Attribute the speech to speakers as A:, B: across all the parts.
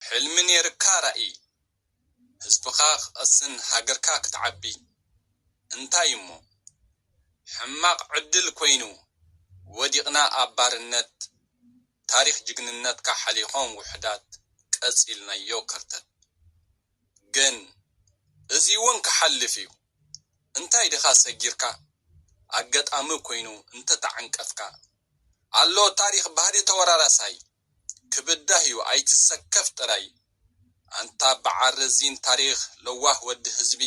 A: ሕልሚ ኔርካ ራኢ ህዝብኻ ክቀስን ሃገርካ ክትዓቢ እንታይ እሞ ሕማቅ ዕድል ኮይኑ ወዲቅና ኣብ ባርነት ታሪኽ ጅግንነትካ ሓሊኾም ውሑዳት ቀጺልናዮ ከርተት ግን እዚ ውን ክሓልፍ ዩ እንታይ ድኻ ሰጊርካ ኣገጣሚ ኮይኑ እንተተዓንቀፍካ ኣሎ ታሪኽ ባህሊ ተወራራሳይ ክብዳህ ዩ ኣይትሰከፍ ጥራይ። ኣንታ በዓል ረዚን ታሪኽ ለዋህ ወዲ ህዝቢ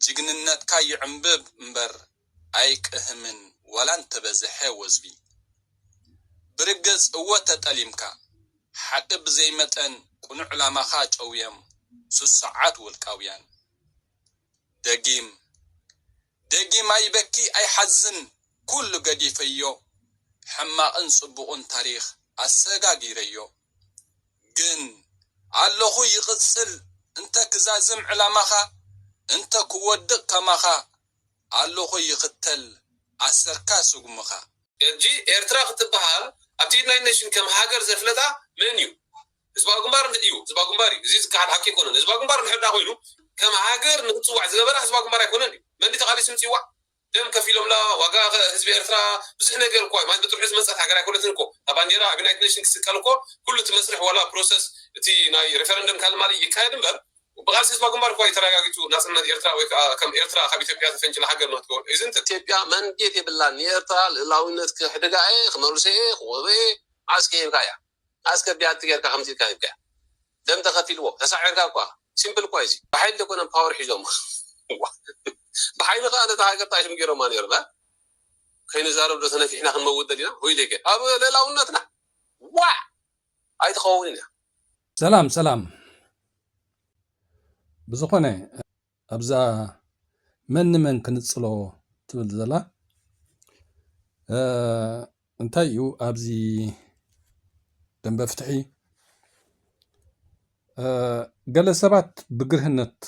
A: ጅግንነትካ ይዕምብብ እምበር ኣይቅህምን ዋላ እንተበዝሐ ወዝቢ። ብርግጽ እወ ተጠሊምካ ሓቒ ብዘይ መጠን ቅኑዕ ዕላማኻ ጨውዮም ስሱዓት ውልቃውያን። ደጊም። ደጊም ኣይበኪ ኣይሓዝን ኩሉ ገዲፈዮ ሕማቅን ጽቡቅን ታሪኽ ኣሰጋጊረዮ ግን ኣለኹ ይቅጽል እንተ ክዛዝም ዕላማኻ እንተ ክወድቅ ከማኻ ኣለኹ ይኽተል ኣሰርካ ስጉምኻ። ሕጂ ኤርትራ
B: ክትበሃል ኣብቲ ዩናይት ነሽን ከም ሃገር ዘፍለጣ መን እዩ? ህዝባዊ ግንባር እንተ እዩ ህዝባዊ ግንባር እዩ እዚ ዝከሓድ ሓቂ ኣይኮነን ህዝባዊ ግንባር እንድሕር ደኣ ኮይኑ ከም ሃገር ንክትጽዋዕ ዝገበራ ህዝባዊ ግንባር ኣይኮነን እዩ መን ድዩ ተቃሊሱ ምጽዋዕ ደም ከፊሎምላ ዋጋ ህዝቢ ኤርትራ ብዙሕ ነገር እኮ ማለት በትርሑ ዝመጸት ሃገር ኣይኮነትን እኮ እታ ባንዴራ ኣብ ዩናይትድ ኔሽን ክስቀል እኮ ኩሉ እቲ መስርሕ ዋላ ፕሮሰስ እቲ ናይ ሪፈረንደም ካልእ ማልእ ይካየድ እምበር ብቃልሲ ህዝባዊ ግንባር እኮ እዩ ተራጋጊጹ ናጽነት ኤርትራ ወይ ከኣ ከም ኤርትራ ካብ ኢትዮጵያ ተፈንጭላ ሃገር ንክትከውን ኢዝንት ኢትዮጵያ ማንዴት
C: የብላን ንኤርትራ ልእላዊነት ክሕድጋ እየ ክመልሶ እየ ክወበ እየ መዓስ ከሂብካ እያ። ኣስከ ብያቲ ገርካ ከምዚ ኢልካ ሂብካያ ደም ተከፊልዎ ተሳዒርካ እኳ ሲምፕል እኳ እዩ እዚ ብሓይሊ ደይኮነን ፓወር ሒዞማ ዋእ ብሓይሊ ከኣ ነታ ሃገር ጣይሽም ገይሮማ ነይሮም እህ ከይንዛረብ ዶ ተነፊሕና ክንመውት ደሊና ሆይ ደገ ኣብ ልእላውነትና ዋእ ኣይትከውንን እያ። ሰላም ሰላም
D: ብዝኮነ ኣብዛ መን ንመን ክንጽሎ ትብል ዘላ እንታይ እዩ ኣብዚ ደንበ ፍትሒ ገለ ሰባት ብግርህነት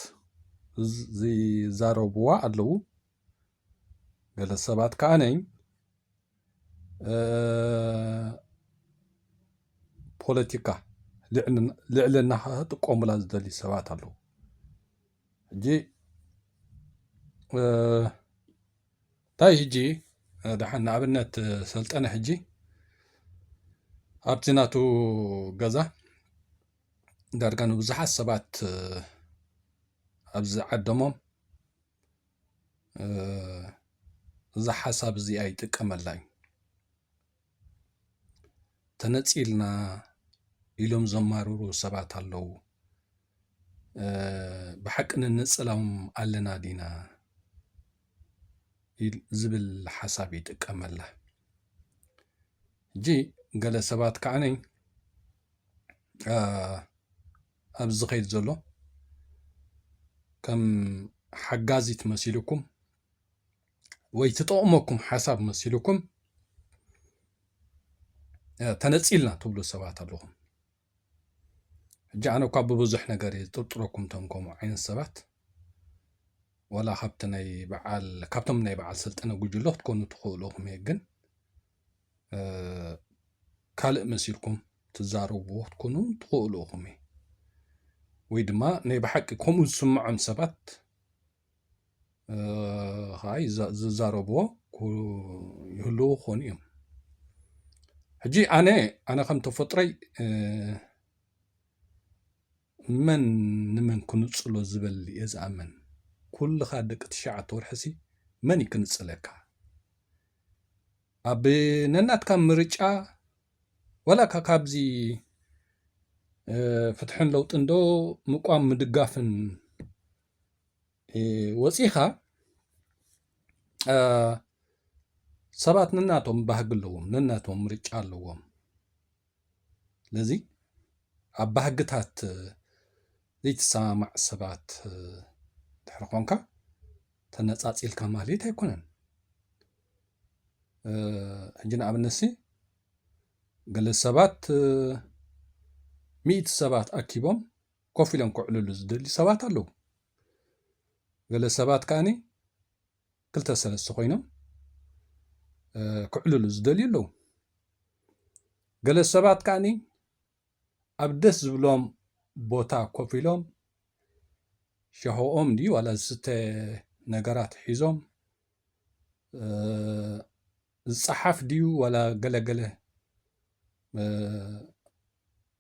D: ዝዛረብዋ ኣለዉ። ገለ ሰባት ከዓ ነኝ ፖለቲካ ልዕልና ክጥቀሙላ ዝደልዩ ሰባት ኣለዉ ሕጂ እንታይ ሕጂ ድሓን ንኣብነት ሰልጠነ ሕጂ ኣብቲ ናቱ ገዛ ዳርጋ ንብዙሓት ሰባት ኣብዚ ዓደሞም እዛ ሓሳብ እዚኣ ይጥቀመላ እዩ። ተነፂልና ኢሎም ዘማርሩ ሰባት ኣለዉ። ብሓቂ ንነፀሎም ኣለና ዲና ዝብል ሓሳብ ይጥቀመላ። ሕጂ ገለ ሰባት ከዓኒ ኣብዚ ዝኸይድ ዘሎ ከም ሓጋዚት መሲልኩም ወይ ትጠቕመኩም ሓሳብ መሲልኩም ተነፂልና ትብሉ ሰባት ኣለኹም ሕጂ ኣነ እኳ ብብዙሕ ነገር እየ ዝጥርጥረኩም እቶም ከምኡ ዓይነት ሰባት ወላ ካብቲ ናይ በዓል ካብቶም ናይ በዓል ሰልጠነ ጉጅለ ክትኮኑ ትኽእሉ ኢኹም እየ ግን ካልእ መሲልኩም ትዛረብዎ ክትኮኑ ትኽእሉ ኢኹም እዩ ወይ ድማ ናይ ብሓቂ ከምኡ ዝስምዖም ሰባት ከዓ ዝዛረብዎ ይህልዎ ክኾኑ እዮም ሕጂ ኣነ ኣነ ከም ተፈጥሮይ መን ንመን ክንፅሎ ዝበል እየ ዝኣምን ኩልኻ ደቂ ትሽዓተ ወርሕሲ መን እዩ ክንፅለካ ኣብ ነናትካ ምርጫ ዋላ እካ ካብዚ ፍትሕን ለውጥን ዶ ምቋም ምድጋፍን ወፂእኻ ሰባት ነናቶም ባህጊ ኣለዎም ነናቶም ምርጫ ኣለዎም። ስለዚ ኣብ ባህግታት ዘይትሰማማዕ ሰባት ድሕሪ ኮንካ ተነፃፂልካ ማለት ኣይኮነን ሕጂ ንኣብነት ሲ ገለ ሰባት ሚእቲ ሰባት ኣኪቦም ኮፍ ኢሎም ክዕልሉ ዝደልዩ ሰባት ኣለዉ ገለ ሰባት ከኣኒ ክልተ ሰለስተ ኮይኖም ክዕልሉ ዝደልዩ ኣለዉ ገለ ሰባት ከዓኒ ኣብ ደስ ዝብሎም ቦታ ኮፍ ኢሎም ሻሆኦም ድዩ ዋላ ዝስተ ነገራት ሒዞም ዝፀሓፍ ድዩ ዋላ ገለገለ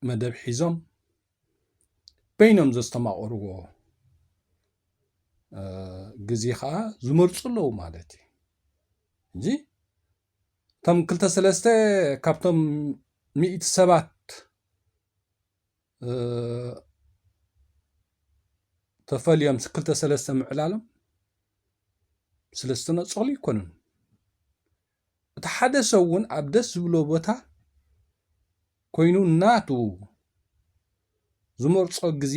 D: መደብ ሒዞም በይኖም ዘስተማቕርዎ ግዜ ከዓ ዝመርፁ ኣለዉ ማለት እዩ እዚ እቶም ክልተ ሰለስተ ካብቶም ሚእቲ ሰባት ተፈልዮም ክልተ ሰለስተ ምዕላሎም ስለዝተነፀሉ ይኮኑን እቲ ሓደ ሰብ ውን ኣብ ደስ ዝብሎ ቦታ ኮይኑ ናቱ ዝመርጾ ግዜ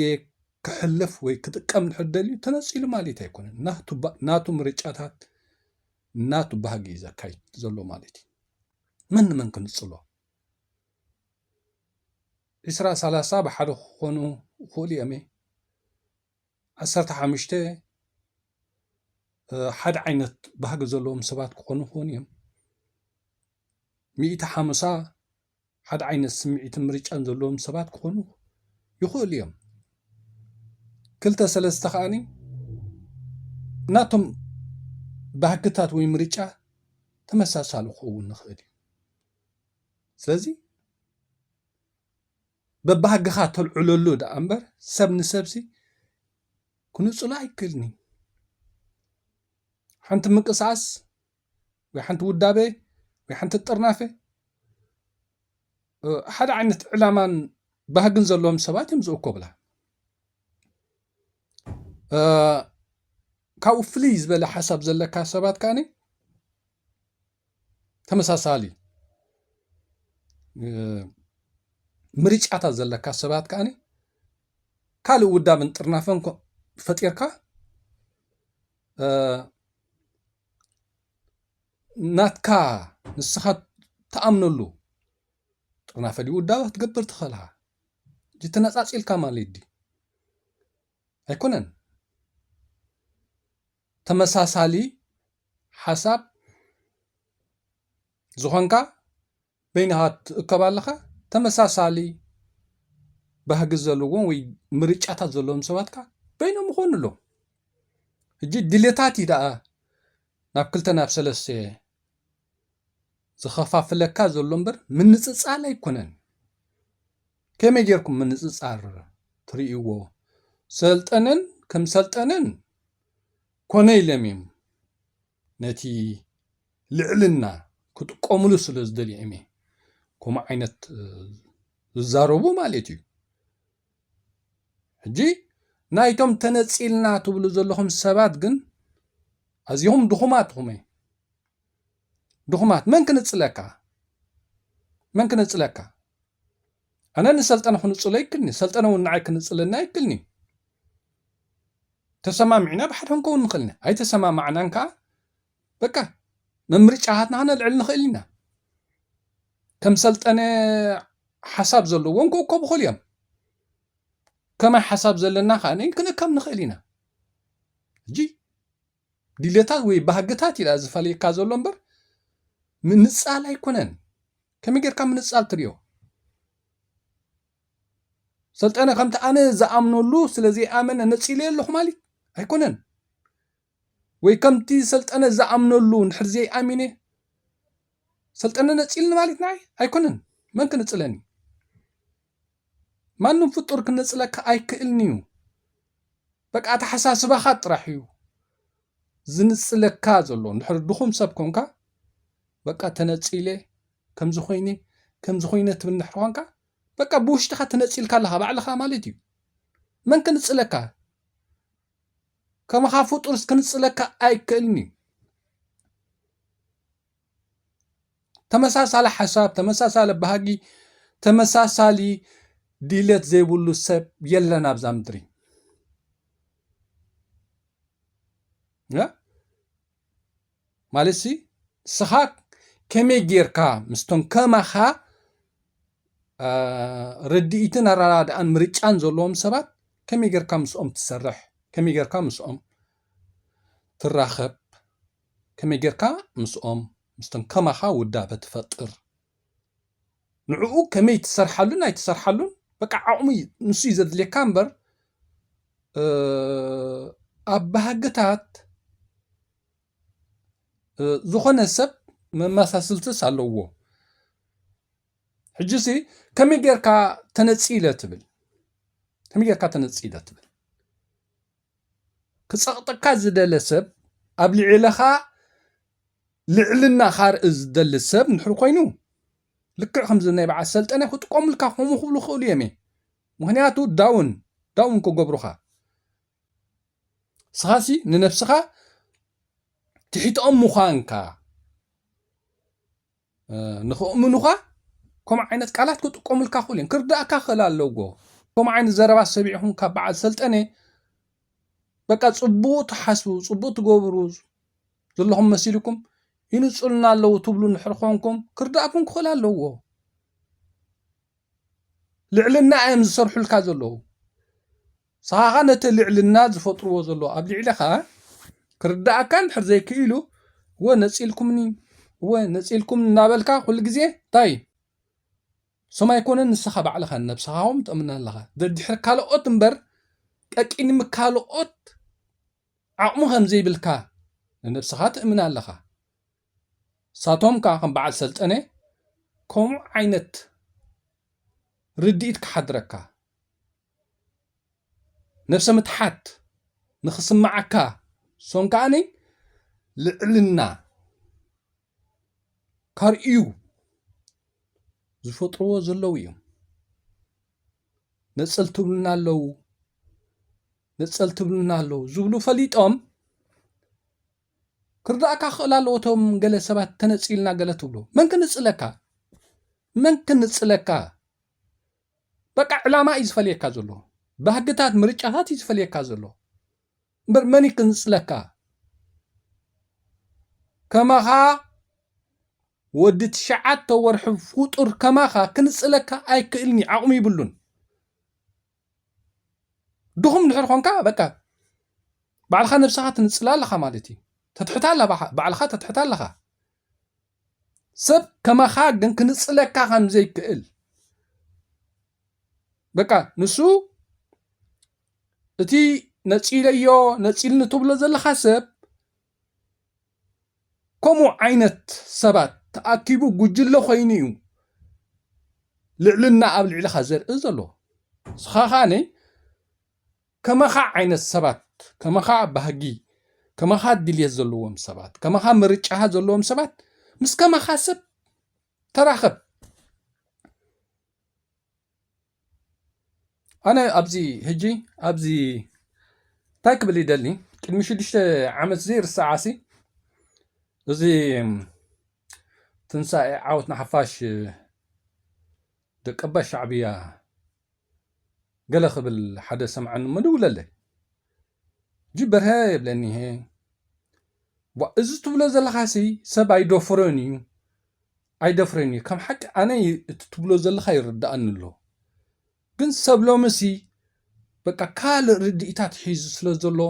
D: ከሕልፍ ወይ ክጥቀም እንድሕር ደልዩ ተነጺሉ ማለት ኣይኮነን። ናቱ ናቱ ምርጫታት ናቱ ባህጊ እዩ ዘካይድ ዘሎ ማለት እዩ። መን ንመን ክንጽሎ ዒስራ ሰላሳ ብሓደ ክኾኑ ይኽእሉ እዮም። ዓሰርተ ሓሙሽተ ሓደ ዓይነት ባህጊ ዘለዎም ሰባት ክኾኑ ይኽእሉ እዮም። ሚእቲ ሓሙሳ ሓደ ዓይነት ስምዒትን ምርጫን ዘለዎም ሰባት ክኾኑ ይኽእሉ እዮም። ክልተ ሰለስተ ከዓኒ ናቶም ባህግታት ወይ ምርጫ ተመሳሳሊ ክኸውን ንኽእል እዩ። ስለዚ በባህግኻ ተልዕለሉ ደኣ እምበር ሰብ ንሰብሲ ክንጽሎ ኣይክእልን እዩ። ሓንቲ ምንቅስቓስ ወይ ሓንቲ ውዳበ ወይ ሓንቲ ጥርናፈ ሓደ ዓይነት ዕላማን ባህግን ዘለዎም ሰባት እዮም ዝእኮብላ። ካብኡ ፍልይ ዝበለ ሓሳብ ዘለካ ሰባት ከኣ ተመሳሳሊ ምርጫታት ዘለካ ሰባት ከኣ ካልእ ውዳበን ጥርናፈን ፈጢርካ ናትካ ንስኻ እትኣምነሉ ጥርናፈ ድዩ ውዳበ ክትገብር ትኽእል ኢኻ። ተነጻጺልካ ማለት ድዩ? ኣይኮነን። ተመሳሳሊ ሓሳብ ዝኾንካ በይንኻ ትእከብ ኣለኻ፣ ተመሳሳሊ ባህጊ ዘለዎም ወይ ምርጫታት ዘለዎም ሰባት ከኣ በይኖም ይኾኑ ኣለዉ። ሕጂ ድሌታት እዩ ደኣ ናብ ክልተ ናብ ሰለስተ ዝኸፋፍለካ ዘሎ እምበር ምንጽጻል ኣይኮነን ከመይ ጌርኩም ምንጽጻር ትርእይዎ ሰልጠነን ከም ሰልጠነን ኮነ ኢሎም እዮም ነቲ ልዕልና ክጥቀምሉ ስለ ዝደልዩ እዮም ከምኡ ዓይነት ዝዛረቡ ማለት እዩ ሕጂ ናይቶም ተነጺልና ትብሉ ዘለኹም ሰባት ግን ኣዚኹም ድኹማት ኹመ ድኹማት መን ክንጽለካ መን ክንጽለካ ኣነ ንሰልጠነ ክንጽሎ ይክልኒ ሰልጠነ እውን ንዓይ ክንጽለና ይክልኒ ተሰማሚዕና ብሓደ ክንከውን ንኽእል ኢና ኣይተሰማማዕናን ከዓ በቃ መምርጫታትና ክነልዕል ንኽእል ኢና ከም ሰልጠነ ሓሳብ ዘለዎም ክእከቡ ክእሉ እዮም ከመይ ሓሳብ ዘለና ከዓ ክንእከብ ንኽእል ኢና ሕጂ ድሌታት ወይ ባህግታት ኢዩ ዝፈልየካ ዘሎ እምበር ምንጻል ኣይኮነን። ከመይ ጌርካ ምንጻል ትሪኦ? ሰልጠነ ከምቲ ኣነ ዝኣምነሉ ስለ ዘይኣመነ ነጺለዮ ኣለኹ ማለት ኣይኮነን ወይ ከምቲ ሰልጠነ ዝኣምነሉ ንድሕር ዘይኣሚነ ሰልጠነ ነጺልኒ ማለት ንዓይ ኣይኮነን መን ክንጽለኒ ማንም ፍጡር ክነጽለካ ኣይክእልንዩ በቃ ኣተሓሳስባኻ ጥራሕ እዩ ዝንጽለካ ዘሎ እንድሕር ድኹም ሰብ ኮንካ በቃ ተነጺለ ከምዚ ኮይነ ከምዚ ኮይነ ትብል እንድሕር ኮንካ በቃ ብውሽጥኻ ተነጺልካ ኣለኻ ባዕልኻ ማለት እዩ መን ክንጽለካ ከማኻ ፍጡርስ ክንጽለካ ኣይክእልን እዩ ተመሳሳሊ ሓሳብ ተመሳሳሊ ባህጊ ተመሳሳሊ ድሌት ዘይብሉ ሰብ የለን ኣብዛ ምድሪ ማለት ሲ ንስኻ ከመይ ጌርካ ምስቶም ከማኻ ርድኢትን ኣረዳድኣን ምርጫን ዘለዎም ሰባት ከመይ ጌርካ ምስኦም ትሰርሕ ከመይ ጌርካ ምስኦም ትራኸብ ከመይ ጌርካ ምስኦም ምስቶም ከማኻ ውዳበ ትፈጥር ንዕኡ ከመይ ትሰርሓሉን ኣይትሰርሓሉን በቃ ዓቕሙ ንሱ እዩ ዘድልየካ እምበር ኣብ ባህግታት ዝኾነ ሰብ መመሳስልትስ ኣለዎ ሕጂ ሲ ከመይ ጌርካ ተነጺለ ትብል ከመይ ጌርካ ተነጺለ ትብል ክጸቕጠካ ዝደለ ሰብ ኣብ ልዕለኻ ልዕልና ካርኢ ዝደሊ ሰብ እንድሕር ኮይኑ ልክዕ ከምዚ ናይ በዓል ሰልጠነ ክጥቀሙልካ ከምኡ ክብሉ ክእሉ እዮም ምክንያቱ ዳውን ዳውን ክገብሩኻ ስኻሲ ንነብስኻ ትሒትኦም ምዃንካ ንክእምኑኻ ከምኡ ዓይነት ቃላት ክጥቀሙልካ ክእሉ እዮም ክርዳእካ ክእል ኣለዎ ከምኡ ዓይነት ዘረባ ሰቢዕኹም ካብ በዓል ሰልጠነ በቃ ፅቡቅ ትሓስቡ ፅቡቅ ትገብሩ ዘለኹም መሲልኩም ይንፅሉና ኣለዉ ትብሉ ንድሕር ኮንኩም ክርዳእኩም ክኽእል ኣለዎ ልዕልና እዮም ዝሰርሑልካ ዘለዉ። ንስኻኻ ነቲ ልዕልና ዝፈጥርዎ ዘለዉ ኣብ ልዕሌኻ ክርድኣካ እንድሕር ዘይክኢሉ እወ ነጺልኩምኒ እወ ነጺልኩም እናበልካ ኩሉ ግዜ እንታይ እዩ ስም ኣይኮነን ንስኻ ባዕልኻ ነብስኻ እውን ትእምና ኣለኻ ደድሕሪ ካልኦት እምበር ቀቂንሚ ካልኦት ዓቕሙ ከም ዘይብልካ ንነብስኻ ትእምና ኣለኻ ንሳቶም ከኣ ከም በዓል ሰልጠነ ከምኡ ዓይነት ርድኢት ክሓድረካ፣ ነብሰ ምትሓት ንኽስምዓካ ሶም ከኣ ልዕልና ከርእዩ ዝፈጥርዎ ዘለዉ እዮም። ነጸልቲ ይብሉና ኣለዉ ነጸልቲ ይብሉና ኣለዉ ዝብሉ ፈሊጦም ክርዳእካ ክኽእል ኣለዎ እቶም ገለ ሰባት ተነጺልና ገለ ትብሉ መን ክንጽለካ መን ክንጽለካ በቃ ዕላማ እዩ ዝፈልየካ ዘሎ ባህግታት ምርጫታት እዩ ዝፈልየካ ዘሎ እምበር መን እዩ ክንጽለካ ከማኻ ወዲ ትሽዓተ ወርሒ ፍጡር ከማኻ ክንጽለካ ኣይክእልኒ ዓቕሚ ይብሉን ድኹም ድሕር ኾንካ በቃ ባዕልኻ ነብስኻ ትንጽላ ኣለኻ ማለት እዩ ተትሕታ ኣላ ባዕልኻ ተትሕታ ኣለኻ ሰብ ከማኻ ግን ክንጽለካ ከም ዘይክእል በቃ ንሱ እቲ ነጺለዮ ነጺልኒ ትብሎ ዘለኻ ሰብ ከምኡ ዓይነት ሰባት ተኣኪቡ ጉጅለ ኮይኑ እዩ ልዕልና ኣብ ልዕልኻ ዘርኢ ዘሎ ንስኻ ከዓኒ ከማኻ ዓይነት ሰባት ከማኻ ባህጊ ከማኻ ድልየት ዘለዎም ሰባት ከማኻ ምርጫ ዘለዎም ሰባት ምስ ከማኻ ሰብ ተራኸብ ኣነ ኣብዚ ህጂ ኣብዚ እንታይ ክብል ይደሊ ቅድሚ ሽዱሽተ ዓመት ዘይርሳዓሲ እዚ ትንሳኤ ዓወት ንሓፋሽ ደቀባ ሻዕብያ ገለ ክብል ሓደ ሰምዓኒ መደውለለይ ጅብ በርሀ የብለኒ እሀ። ዋእ እዚ ትብሎ ዘለኻሲ ሰብ ኣይደፍሮን ኢዩ ኣይደፍረን ኢዩ ከም ሓቂ ኣነ እቲ ትብሎ ዘለኻ ይርድኣኒ ኣሎ ግን ሰብ ሎምሲ በቃ ካልእ ርድኢታት ሒዙ ስለ ዘሎ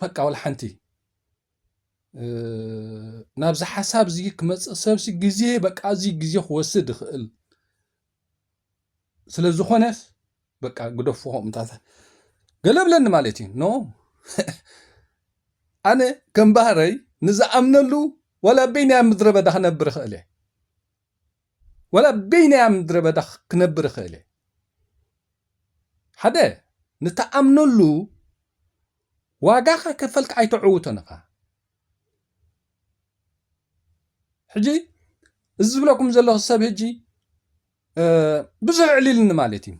D: በቃ ወላ ሓንቲ ናብዚ ሓሳብ እዚ ክመፅእ ሰብሲ ግዜ በቃ እዚ ግዜ ክወስድ ይኽእል ስለ ዝኾነስ በቃ ግደፎ ከምታት ገለ ብለኒ ማለት እዩ ኖ ኣነ ከም ባህረይ ንዝኣምነሉ ወላ በይናያ ምድረ በዳ ክነብር ይኽእል እየ ወላ በይናያ ምድረ በዳ ክነብር ይኽእል እየ ሓደ ንተኣምነሉ ዋጋኻ ከፈልካ ኣይተዕውቶን ኢኻ ሕጂ እዚ ዝብለኩም ዘለኹ ሰብ ሕጂ ብዙሕ ዕሊልኒ ማለት እዩ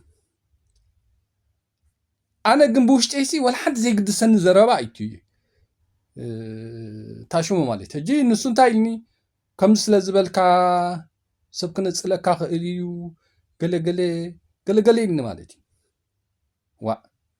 D: ኣነ ግን ብውሽጢ ሲ ወላ ሓንቲ ዘይግድሰኒ ዘረባ ኣይቱ እዩ ታሽሙ ማለት ሕጂ ንሱ እንታይ ኢልኒ ከምዚ ስለ ዝበልካ ሰብ ክነፅለካ ክእል እዩ ገለገለ ገለገለ ኢልኒ ማለት እዩ ዋእ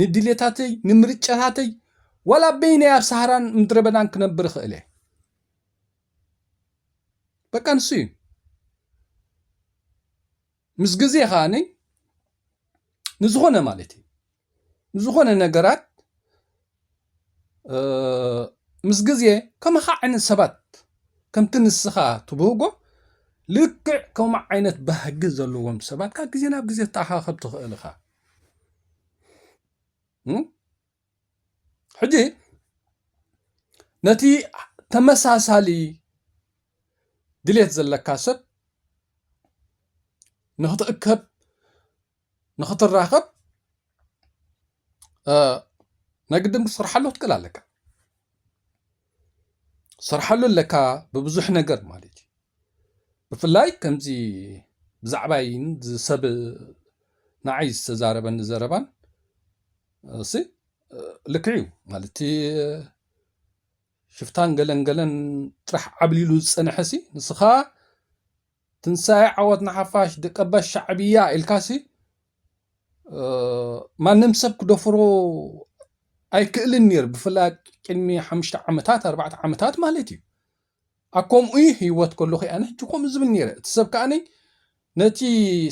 D: ንድሌታተይ ንምርጫታተይ ዋላ በይነይ ኣብ ሳህራን ምድረበዳን ክነብር ይኽእል እየ በቃ ንሱ እዩ ምስ ግዜ ከዓኒ ንዝኾነ ማለት እዩ ንዝኾነ ነገራት ምስ ግዜ ከማኻ ዓይነት ሰባት ከምቲ ንስኻ ትብህጎ ልክዕ ከምኡ ዓይነት ባህጊ ዘለዎም ሰባት ካብ ግዜ ናብ ግዜ ትተኣኻኸብ ትኽእል ኢኻ ሕጂ ነቲ ተመሳሳሊ ድሌት ዘለካ ሰብ ንኽትእከብ ንኽትራኸብ ናይ ግድን ክትሰርሓሉ ክትክእል ኣለካ። ሰርሓሉ ኣለካ ብብዙሕ ነገር ማለት እዩ ብፍላይ ከምዚ ብዛዕባይ ሰብ ንዓይ ዝተዛረበኒ ዘረባን እሲ ልክዕ እዩ ማለት ሽፍታን ገለን ገለን ጥራሕ ዓብሊሉ ዝፀንሐ ሲ ንስኻ ትንሳኤ ዓወት ንሓፋሽ ደቀባት ሻዕብያ ኢልካሲ ማንም ሰብ ክደፍሮ ኣይክእልን ነይሩ ብፍላይ ቅድሚ ሓሙሽተ ዓመታት ኣርባዕተ ዓመታት ማለት እዩ ኣብ ከምኡ እዩ ህይወት ከለኹ እያ ንሕጂ ከምኡ ዝብል ነይረ እቲ ሰብ ከዓኒ ነቲ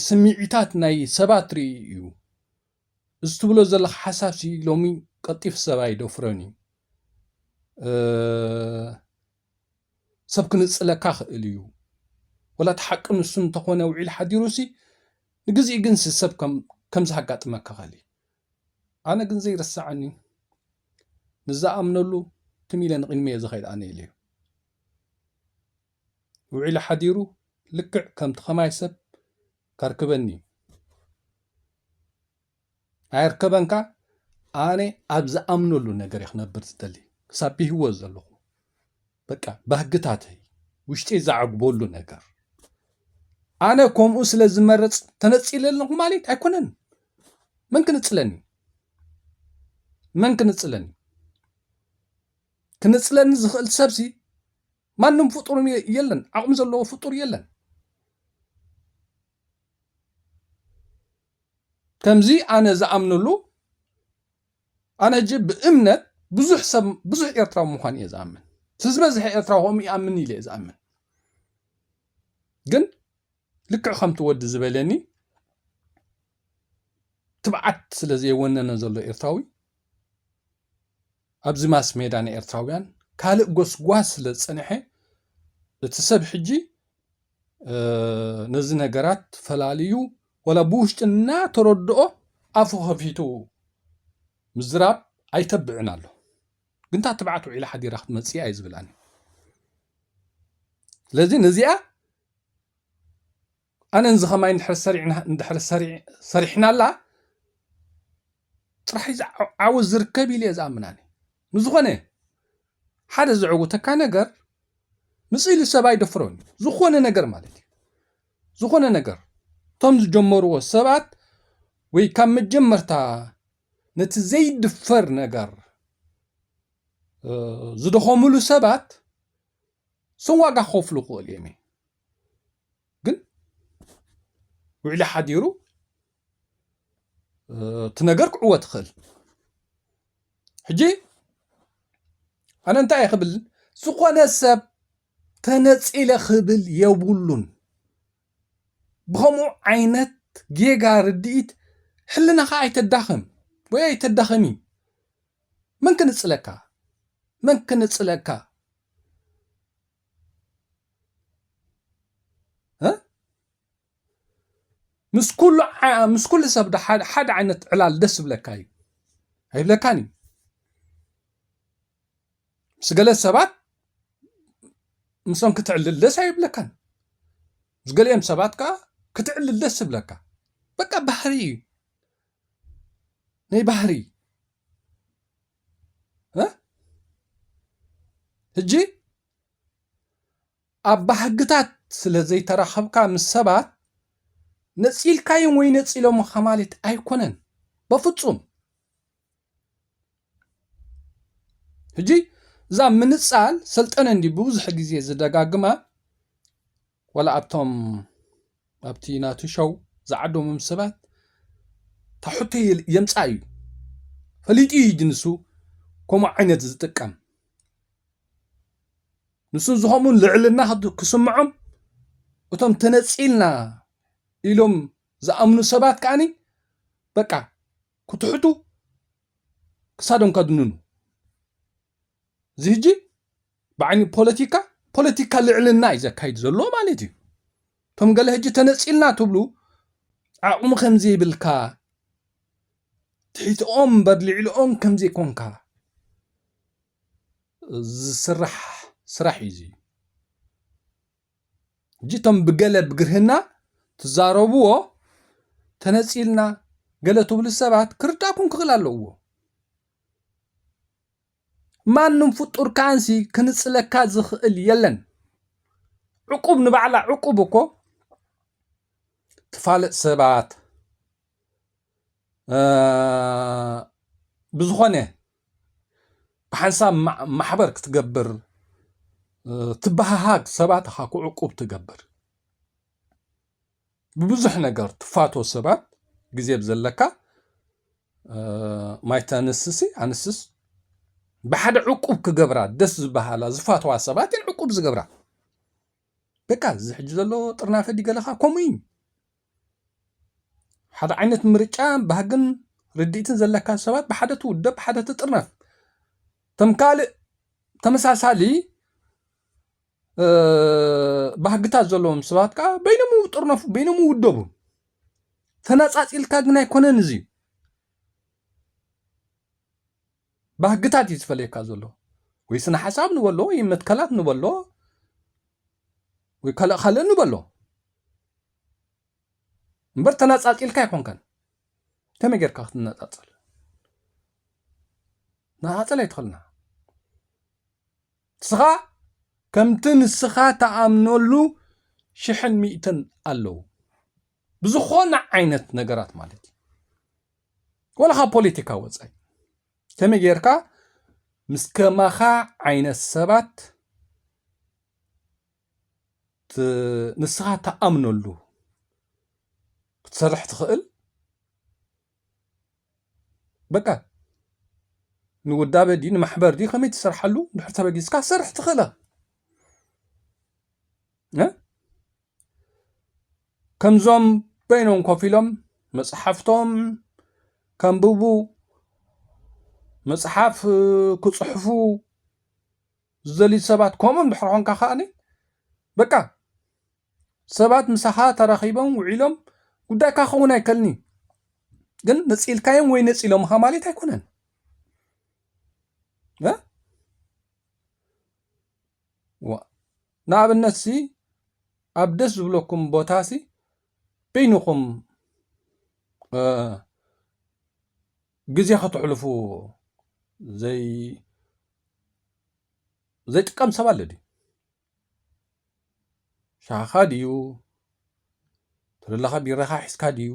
D: ስምዒታት ናይ ሰባት ርኢ እዩ እዚ ትብሎ ዘለካ ሓሳብ ሲ ሎሚ ቀልጢፍ ሰብ ኣይደፍሮን እዩ ሰብ ክንጽለካ ክእል እዩ ወላ እቲ ሓቂ ንሱ እንተኾነ ውዒሉ ሓዲሩ ሲ ንግዚኡ ግን ሲ ሰብ ከም ከምዚ ሃጋጥመካ ከሊ ኣነ ግን ዘይርሰዓኒ ምስ ዝኣምነሉ ትም ኢለ ንቕድሚ እየ ዝኸይድ ኣነ ኢለዩ ውዒሉ ሓዲሩ ልክዕ ከምቲ ከማይ ሰብ ከርክበኒ እዩ ኣየርከበንካ ኣነ ኣብ ዝኣምነሉ ነገር ክነብር ዝደሊ ክሳብ ብሂወት ዘለኹ በቃ ባህግታተይ ውሽጢ ዘዕግበሉ ነገር ኣነ ከምኡ ስለ ዝመረፅ ተነፂለ ኣለኹ ማለት ኣይኮነን መን ክንፅለኒ መን ክንፅለኒ ክንፅለኒ ዝኽእል ሰብሲ ማንም ፍጡር የለን ዓቕሚ ዘለዎ ፍጡር የለን ከምዚ ኣነ ዝኣምነሉ ኣነ ሕጂ ብእምነት ብዙሕ ሰብ ብዙሕ ኤርትራዊ ምዃን እየ ዝኣምን እቲ ዝበዝሐ ኤርትራዊ ከምኡ ይኣምን ኢለ እየ ዝኣምን ግን ልክዕ ከምቲ ወዲ ዝበለኒ ትብዓት ስለ ዘየወነነ ዘሎ ኤርትራዊ ኣብዚ ማስ ሜዳ ንኤርትራውያን ካልእ ጎስጓስ ስለ ዝጸንሐ እቲ ሰብ ሕጂ ነዚ ነገራት ፈላልዩ ወላ ብውሽጢ እናተረድኦ ኣፉ ከፊቱ ምዝራብ ኣይተብዕን ኣሎ ግን እታ ትብዓት ውዒላ ሓዲራ ክትመፅእ እየ ዝብል ኣነ ስለዚ ነዚኣ ኣነን ዝኸማይ እንድሕር ሰሪሕናላ ጥራሕ ዓወት ዝርከብ ኢለ እየ ዝኣምናኒ ንዝኾነ ሓደ ዘዕውተካ ነገር ምስ ኢሉ ሰብ ኣይደፍሮን እዩ ዝኾነ ነገር ማለት እዩ ዝኾነ ነገር እቶም ዝጀመርዎ ሰባት ወይ ካብ መጀመርታ ነቲ ዘይድፈር ነገር ዝደኸምሉ ሰባት ሰው ዋጋ ክኸፍሉ ክኽእሉ እዮም ግን ውዕሊ ሓዲሩ እቲ ነገር ክዕወት ይኽእል። ሕጂ ኣነ እንታይ እየ ክብል ዝኾነ ሰብ ተነጺለ ክብል የብሉን። ብኸምኡ ዓይነት ጌጋ ርድኢት ሕልናኻ ኣይተዳኽም ወይ ኣይተዳኸሚ። መን ክንጽለካ መን ክንጽለካ ምስ ኩሉ ምስ ኩሉ ሰብ ሓደ ዓይነት ዕላል ደስ ዝብለካ እዩ ኣይብለካን እዩ ምስ ገለ ሰባት ምስኦም ክትዕልል ደስ ኣይብለካን ምስ ገሊኦም ሰባት ከዓ ክትዕልል ደስ ዝብለካ በቃ ባህሪ እዩ ናይ ባህሪ ሕጂ ኣብ ባህግታት ስለ ዘይተራኸብካ ምስ ሰባት፣ ነጺልካዮም ወይ ነጺሎምኻ ማለት ኣይኮነን። በፍጹም። ሕጂ እዛ ምንጻል ሰልጠነ እንዲ ብብዙሕ ግዜ ዝደጋግማ ወላ ኣብቶም ኣብቲ ናቱ ሸው ዝዓደሞም ሰባት እታ ሕቶ የምጻእ እዩ ፈሊጡ እዩ ንሱ ከምኡ ዓይነት ዝጥቀም ንሱ ዝኸምኡ ልዕልና ክስምዖም እቶም ተነጺልና ኢሎም ዝኣምኑ ሰባት ከኣኒ በቃ ክትሕቱ ክሳዶም ከድንኑ እዚ ህጂ ብዓይኒ ፖለቲካ ፖለቲካ ልዕልና እዩ ዘካይድ ዘሎ ማለት እዩ እቶም ገለ ህጂ ተነፂልና ትብሉ ዓቕሚ ከምዘይብልካ ትሕትኦም እምበር ልዕልኦም ከምዘይኮንካ ዝስራሕ ስራሕ እዩ እዚ። ሕጂ እቶም ብገለ ብግርህና ትዛረብዎ ተነጺልና ገለ ትብሉ ሰባት ክርዳእኩም ክኽእል ኣለዎ። ማንም ፍጡር ከኣንሲ ክንጽለካ ዝኽእል የለን ዕቁብ ንባዕላ ዕቁብ እኮ ትፋለጥ ሰባት ብዝኾነ ብሓንሳብ ማሕበር ክትገብር ትበሃሃግ ሰባት ኢኻ ክዕቁብ ትገብር ብብዙሕ ነገር ትፋቶ ሰባት ግዜ ዘለካ ማይተ ኣንስሲ ኣንስስ ብሓደ ዕቁብ ክገብራ ደስ ዝበሃላ ዝፋተዋ ሰባት እየን ዕቁብ ዝገብራ በቃ እዚ ሕጂ ዘሎ ጥርናፈ ዲገለኻ ከምኡ እዩ ሓደ ዓይነት ምርጫ ባህግን ርድኢትን ዘለካ ሰባት ብሓደ ትውደብ ብሓደ ትጥርነፍ። ከም ካልእ ተመሳሳሊ ባህግታት ዘለዎም ሰባት ከዓ በይኖም ይጥርነፉ በይኖም ይውደቡ። ተነፃፂልካ ግን ኣይኮነን እዚ ባህግታት እዩ ዝፈለየካ ዘሎ ወይ ስነ ሓሳብ ንበሎ ወይ መትከላት ንበሎ ወይ ካልእ ካልእ ንበሎ እምበር ተነጻጺልካ ኣይኮንካን ከመይ ጌርካ ክትነጻጸል ንኣጸል ኣይትኽልና ንስኻ ከምቲ ንስኻ ተኣምነሉ ሽሕን ሚእትን ኣለዉ ብዝኾነ ዓይነት ነገራት ማለት እዩ ወላ ካብ ፖለቲካ ወፃኢ ከመይ ጌርካ ምስ ከማኻ ዓይነት ሰባት ንስኻ ትኣምነሉ ክትሰርሕ ትኽእል በቃ ንውዳበ ድዩ ንማሕበር ድዩ ከመይ ትሰርሓሉ ድሕር ተበጊስካ ክትሰርሕ ትኽእል ከምዞም በይኖም ኮፍ ኢሎም መፅሓፍቶም ከንብቡ መፅሓፍ ክፅሕፉ ዝደልዩ ሰባት ከምኡ እንድሕር ኾንካ ከኣ በቃ ሰባት ምሳኻ ተራኺቦም ውዒሎም ጉዳይካ ክኸውን ኣይከልን እዩ ግን ነፂልካዮም ወይ ነፂሎምኻ ማለት ኣይኮነን ንኣብነት ሲ ኣብ ደስ ዝብለኩም ቦታ ሲ በይንኹም ግዜ ከተሕልፉ ዘይ ዘይጥቀም ሰብ ኣለ ድዩ ሻኻ ድዩ ተደለኻ ቢራኻ ሒዝካ ድዩ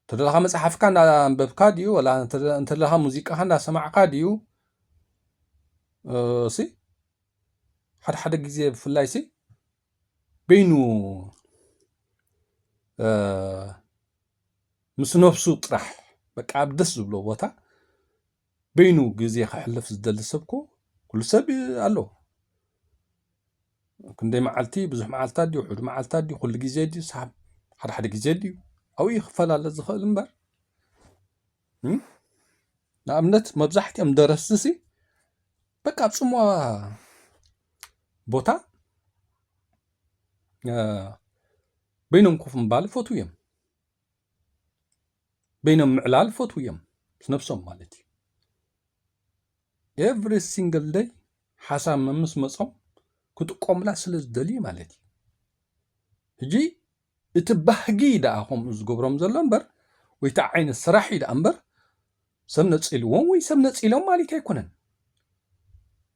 D: ተደለኻ መፅሓፍካ እንዳኣንበብካ ድዩ ወላ እንተደለኻ ሙዚቃኻ እንዳሰማዕካ ድዩ ሲ ሓደ ሓደ ግዜ ብፍላይ ሲ በይኑ ምስ ነብሱ ጥራሕ በቃ ኣብ ደስ ዝብሎ ቦታ በይኑ ግዜ ከሕልፍ ዝደሊ ሰብኮ ኩሉ ሰብ ኣሎ። ክንደይ መዓልቲ ብዙሕ መዓልትታት ድዩ ሕዱ መዓልትታት ድዩ ኩሉ ግዜ ድዩ ሳብ ሓደ ሓደ ግዜ ድዩ ኣብኡ እዩ ክፈላለ ዝኽእል እምበር ንኣብነት መብዛሕትኦም ደረስቲ ሲ በቃ ኣብ ጽምዋ ቦታ በይኖም ኮፍ ምባል ይፈትዉ እዮም። በይኖም ምዕላል ይፈትዉ እዮም ምስ ነብሶም ማለት እዩ ኤቭሪ ሲንግል ደይ ሓሳብ መምስ መጾም ክጥቀሙላ ስለ ዝደልዩ ማለት እዩ ሕጂ እቲ ባህጊ ደኣ ከምኡ ዝገብሮም ዘሎ እምበር ወይ እቲ ዓይነት ስራሕ እዩ ደኣ እምበር ሰብ ነፂልዎም ወይ ሰብ ነፂሎም ማለት ኣይኮነን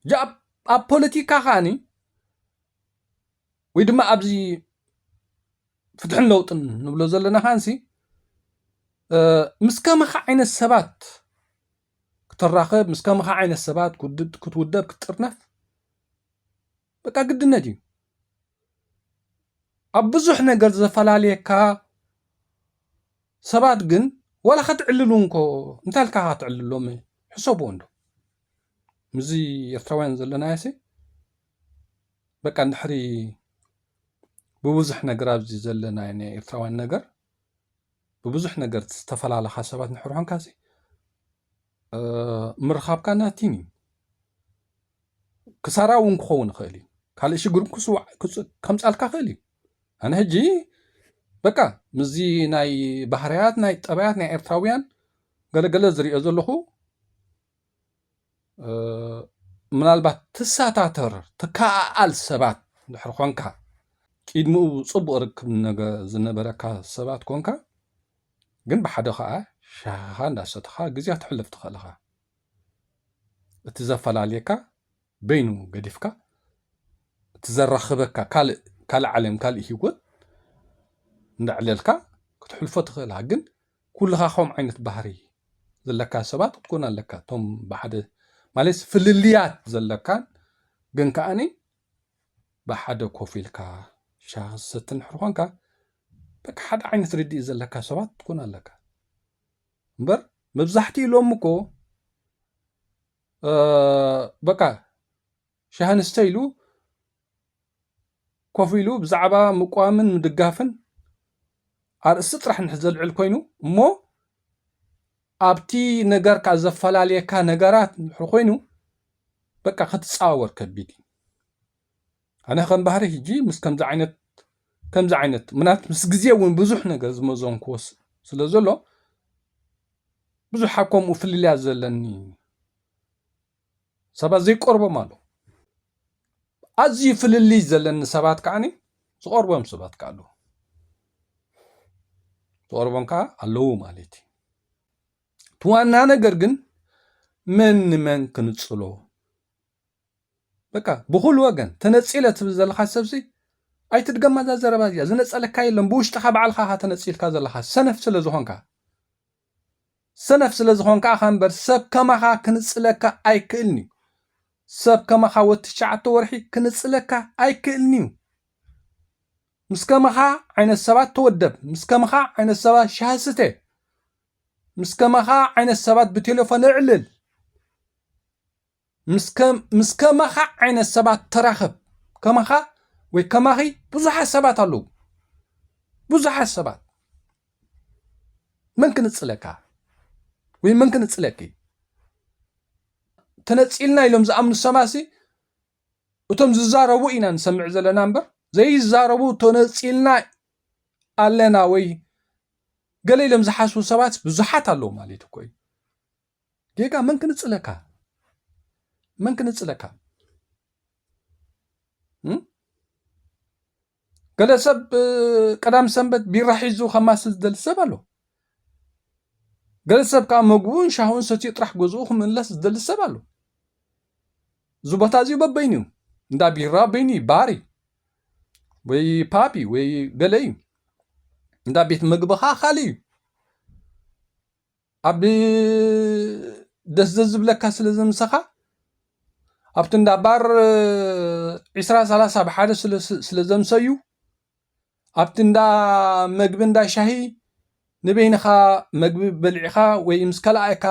D: ሕጂ ኣብ ፖለቲካ ከዓኒ ወይ ድማ ኣብዚ ፍትሕን ለውጥን ንብሎ ዘለና ከዓንሲ ምስ ከማኻ ዓይነት ሰባት ክትራኸብ ምስ ከማኻ ዓይነት ሰባት ክትውደብ ክትጥርነፍ በቃ ግድነት እዩ ኣብ ብዙሕ ነገር ዘፈላለየካ ሰባት ግን ዋላ ከትዕልሉ እንኮ እንታይ ልካ ከትዕልሎም ሕሰብዎ እንዶ ምስዚ ኤርትራውያን ዘለናዮሲ በቃ እንድሕሪ ብብዙሕ ነገር ኣብዚ ዘለና ናይ ኤርትራውያን ነገር ብብዙሕ ነገር ዝተፈላለኻ ሰባት እንድሕር ኾንካ ምርኻብካ ናቲን እዩ ክሳራ እውን ክኸውን ይኽእል እዩ ካልእ ሽግር ክስዋዕ ከምፃልካ ክእል እዩ ኣነ ሕጂ በቃ ምስዚ ናይ ባህርያት ናይ ጠባያት ናይ ኤርትራውያን ገለገለ ዝሪኦ ዘለኹ ምናልባት ትሳታተር ትከኣኣል ሰባት ድሕር ኮንካ ቂድሚኡ ጽቡቅ ርክብ ነገ ዝነበረካ ሰባት ኮንካ ግን ብሓደ ከኣ ሻህኻ እንዳሰተኻ ግዜ ክትሕልፍ ትኽእል ኢኻ እቲ ዘፈላልየካ በይኑ ገዲፍካ እቲ ዘራኽበካ ካልእ ካልእ ዓለም ካልእ ሂወት እንዳዕለልካ ክትሕልፎ ትኽእል ኢኻ ግን ኩልኻ ከምኡ ዓይነት ባህሪ ዘለካ ሰባት ክትኮን ኣለካ እቶም ብሓደ ማለት ፍልልያት ዘለካን ግን ከኣኒ ብሓደ ኮፍ ኢልካ ሻሂ ክትሰቲ እንድሕር ኾንካ በቃ ሓደ ዓይነት ርድኢት ዘለካ ሰባት ክትኮን ኣለካ እምበር መብዛሕትኡ ኢሎም እኮ በቃ ሻሂ ንስተ ኢሉ ኮፍ ኢሉ ብዛዕባ ምቋምን ምድጋፍን ኣርእስቲ ጥራሕ እንድሕር ዘልዕል ኮይኑ እሞ ኣብቲ ነገርካ ዘፈላለየካ ነገራት እንድሕር ኮይኑ በቃ ክትፃወር ከቢድ እዩ ኣነ ከም ባህሪ ሕጂ ምስ ከምዚ ዓይነት ከምዚ ዓይነት ምናት ምስ ግዜ እውን ብዙሕ ነገር ዝመዘንክዎ ስለ ዘሎ ብዙሕ ኣብ ከምኡ ፍልልያ ዘለኒ ሰባት ዘይቀርቦም ኣለዉ ኣዝዩ ፍልልይ ዘለኒ ሰባት ከዓኒ ዝቐርቦም ሰባት ከ ኣለዉ ዝቐርቦም ከዓ ኣለዉ ማለት እዩ እቲ ዋና ነገር ግን መን ንመን ክንፅሎ በቃ ብኩሉ ወገን ተነፂለ ትብል ዘለካ ሰብሲ ኣይትድገማ እዛ ዘረባ እዚኣ ዝነፀለካ የለን ብውሽጥካ ባዕልካ ተነፂልካ ዘለካ ሰነፍ ስለ ዝኾንካ ሰነፍ ስለ ዝኾንካ ኢኻ እምበር ሰብ ከማኻ ክንጽለካ ኣይክእልን'ዩ። ሰብ ከማኻ ወዲ ትሽዓተ ወርሒ ክንጽለካ ኣይክእልን'ዩ። ምስ ከማኻ ዓይነት ሰባት ተወደብ፣ ምስ ከማኻ ዓይነት ሰባት ሻሂ ስተ፣ ምስ ከማኻ ዓይነት ሰባት ብቴለፎን እዕልል። ምስ ከማኻ ዓይነት ሰባት ተራኸብ ከማኻ ወይ ከማኺ ብዙሓት ሰባት ኣለዉ ብዙሓት ሰባት መን ክንጽለካ ወይ መን ክንጽለኪ ተነጺልና ኢሎም ዝኣምኑ ሰባሲ እቶም ዝዛረቡ ኢና ንሰምዕ ዘለና እምበር ዘይዛረቡ ተነጺልና ኣለና ወይ ገለ ኢሎም ዝሓስቡ ሰባት ብዙሓት ኣለዉ ማለት እኮ እዩ ጌጋ መን ክንጽለካ መን ክንጽለካ ገለ ሰብ ቀዳም ሰንበት ቢራ ሒዙ ከማስል ዝደሊ ሰብ ኣሎ ገለ ሰብ ከዓ መግቡን ሻሁን ሰትዩ ጥራሕ ገዝኡ ክምለስ ዝደሊ ሰብ ኣሎ እዚ ቦታ እዚኡ በበይኑ እዩ እንዳ ቢራ በይኑ እዩ ባሪ ወይ ፓፒ ወይ ገለ እዩ እንዳ ቤት ምግቢ ከዓ ካልእ እዩ ኣብ ደስ ዘዝብለካ ስለ ዘምሰኻ ኣብቲ እንዳ ባር ዒስራ ሰላሳ ብሓደ ስለ ዘምሰዩ ኣብቲ እንዳ መግቢ እንዳ ሻሂ ንበይንኻ መግቢ በሊዕኻ ወይ ምስ ካልኣይካ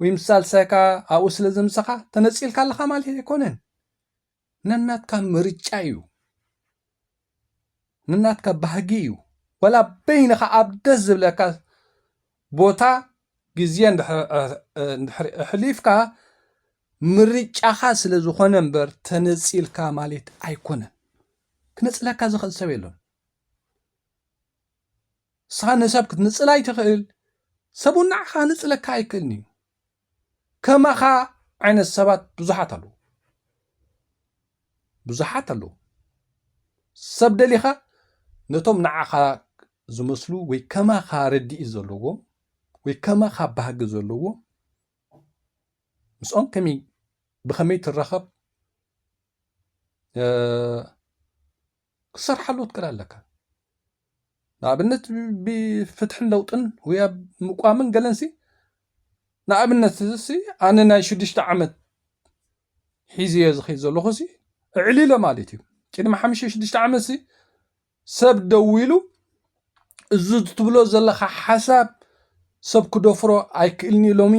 D: ወይ ምስ ሳልሳይካ ኣብኡ ስለ ዘምሰኻ ተነጺልካ ኣለኻ ማለት ኣይኮነን። ነናትካ ምርጫ እዩ ነናትካ ባህጊ እዩ ወላ በይንኻ ኣብ ደስ ዝብለካ ቦታ ግዜ እንድሕሪ ኣሕሊፍካ ምርጫኻ ስለ ዝኾነ እምበር ተነፂልካ ማለት ኣይኮነን ክነፅለካ ዝኽእል ሰብ የሎን ንስኻ ንሰብ ክትንፅል ኣይትኽእል ሰብውን ንዓኻ ንፅለካ ኣይክእልን እዩ ከማኻ ዓይነት ሰባት ብዙሓት ኣለዉ ብዙሓት ኣለዉ ሰብ ደሊኻ ነቶም ንዓኻ ዝመስሉ ወይ ከማኻ ረድኢ ዘለዎም ወይ ከማኻ ባህጊ ዘለዎም ምስኦም ከመይ ብኸመይ ትራኸብ ክትሰርሓሉ ክትክእል ኣለካ ንኣብነት ብፍትሕን ለውጥን ወይ ኣብ ምቋምን ገለንሲ ንኣብነት እዚሲ ኣነ ናይ ሽዱሽተ ዓመት ሒዝዮ ዝኸይድ ዘለኹሲ እዕሊለ ማለት እዩ ቅድሚ ሓሙሽተ ሽዱሽተ ዓመትሲ ሰብ ደው ኢሉ እዚ ትብሎ ዘለካ ሓሳብ ሰብ ክደፍሮ ኣይክእልኒ ኢሎሚ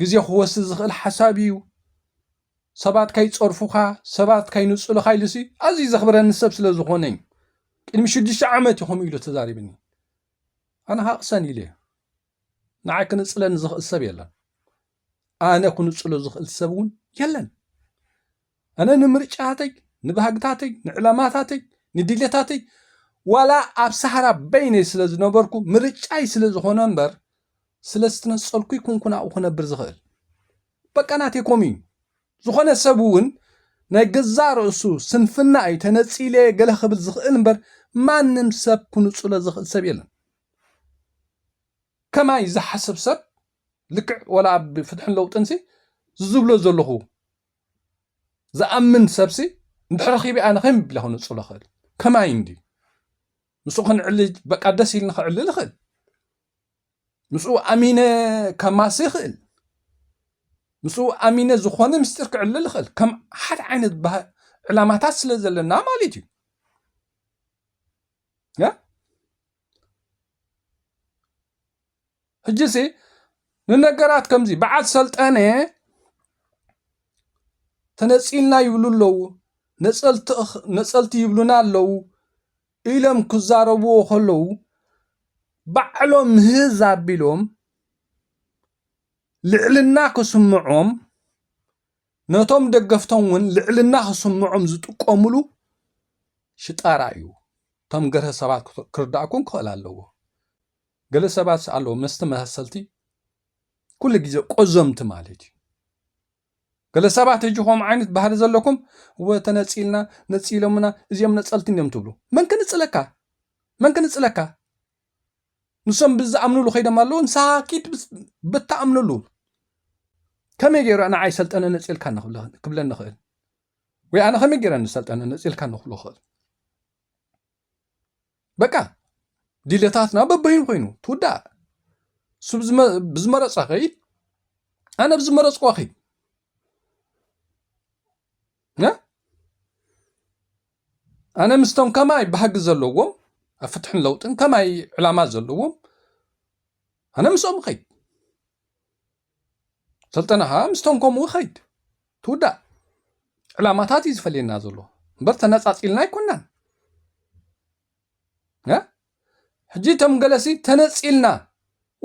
D: ግዜ ክወስድ ዝኽእል ሓሳብ እዩ ሰባት ከይጸርፉኻ፣ ሰባት ከይንጹልኻ ኢሉሲ ኣዝዩ ዘኽብረኒ ሰብ ስለ ዝኾነ'ዩ። ቅድሚ ሽዱሽተ ዓመት'ዩ ከምኡ ኢሉ ተዛሪብኒ። ኣነ ከኣ ቅሰን ኢለዮ። ንዓይ ክንጽለኒ ዝኽእል ሰብ የለን። ኣነ ክንጽሎ ዝኽእል ሰብ እውን የለን። ኣነ ንምርጫታተይ፣ ንባህግታተይ፣ ንዕላማታተይ፣ ንድሌታተይ ዋላ ኣብ ሳህራ በይነይ ስለ ዝነበርኩ ምርጫይ ስለ ዝኾነ እምበር ስለ ዝተነጸልኩ ኣይኮንኩን ኣብኡ ክነብር ዝኽእል። በቃ ናተይ ኮም እዩ ዝኾነ ሰብ እውን ናይ ገዛእ ርእሱ ስንፍና እዩ ተነጺለየ ገለ ክብል ዝኽእል እምበር ማንም ሰብ ክንጹሎ ዝኽእል ሰብ የለን ከማይ ዝሓስብ ሰብ ልክዕ ወላ ኣብ ፍትሕን ለውጥንሲ ዝዝብሎ ዘለኹ ዝኣምን ሰብሲ እንድሕር ረኺቢ ኣነ ከም ቢላ ክንጹሎ ክእል ከማይ እንዲ ምስኡ ክንዕልጅ በቃ ደስ ኢልኒ ክዕልል ይኽእል ምስኡ ኣሚነ ከማሲ ይኽእል ምስኡ ኣሚነ ዝኾነ ምስጢር ክዕልል ይኽእል ከም ሓደ ዓይነት ዕላማታት ስለ ዘለና ማለት እዩ ሕጂ ሲ ንነገራት ከምዚ በዓል ሰልጠነ ተነፂልና ይብሉ ኣለዉ ነፀልቲ ይብሉና ኣለዉ ኢሎም ክዛረብዎ ከለዉ ባዕሎም ህዝ ኣቢሎም ልዕልና ክስምዖም ነቶም ደገፍቶም እውን ልዕልና ክስምዖም ዝጥቀምሉ ሽጣራ እዩ እቶም ገርሀ ሰባት ክርዳእኩም ክኽእል ኣለዎ ገለ ሰባት ኣለዎ መስቲ መሰልቲ ኩሉ ግዜ ቆዘምቲ ማለት እዩ ገለ ሰባት ሕጂ ከምኡ ዓይነት ባህሪ ዘለኩም እወ ተነጺልና ነጺሎምና እዚኦም ነጸልቲ እንዲዮም ትብሉ መን ክንጽለካ መን ክንጽለካ ንሶም ብዝኣምንሉ ከይዶም ኣለዉ ንስኻ ኪድ ብትኣምንሉ ከመይ ገይሩ ንዓይ ሰልጠነ ነጺልካ ክብለኒ ኽእል ወይ ኣነ ከመይ ገይረ ንሰልጠነ ነጺልካ ንክብሎ ኽእል በቃ ድልታትና በበይኑ ኮይኑ ትውዳእ ስብ ብዝመረፀ ከይድ ኣነ ብዝመረፅኳ ከይድ ኣነ ምስቶም ከማይ ባህጊ ዘለዎም ኣብ ፍትሕን ለውጥን ከማይ ዕላማ ዘለዎም ኣነ ምስኦም ከይድ ሰልጠነ ከኣ ምስቶም ከምኡ ይኸይድ ትውዳእ ዕላማታት እዩ ዝፈልየና ዘሎ እምበር ተነጻጺልና ኣይኮናን ሕጂ እቶም ገለሲ ተነጺልና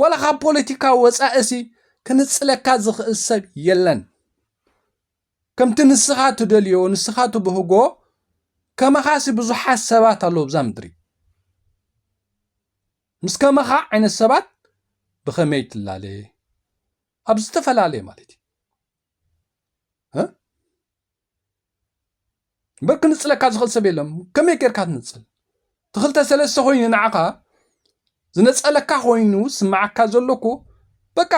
D: ዋላ ካብ ፖለቲካ ወፃእሲ ክንጽለካ ዝኽእል ሰብ የለን ከምቲ ንስኻ ትደልዮ ንስኻ ትብህጎ ከመኻሲ ብዙሓት ሰባት ኣለዉ ብዛ ምድሪ ምስ ከማኻ ዓይነት ሰባት ብኸመይ ትላለ ኣብ ዝተፈላለየ ማለት እዩ እምበር ክንፅለካ ዝኽእል ሰብ የለም ከመይ ጌርካ ትንፅል እቲ ክልተ ሰለስተ ኮይኑ ንዓኻ ዝነፀለካ ኮይኑ ስምዓካ ዘለኩ በቃ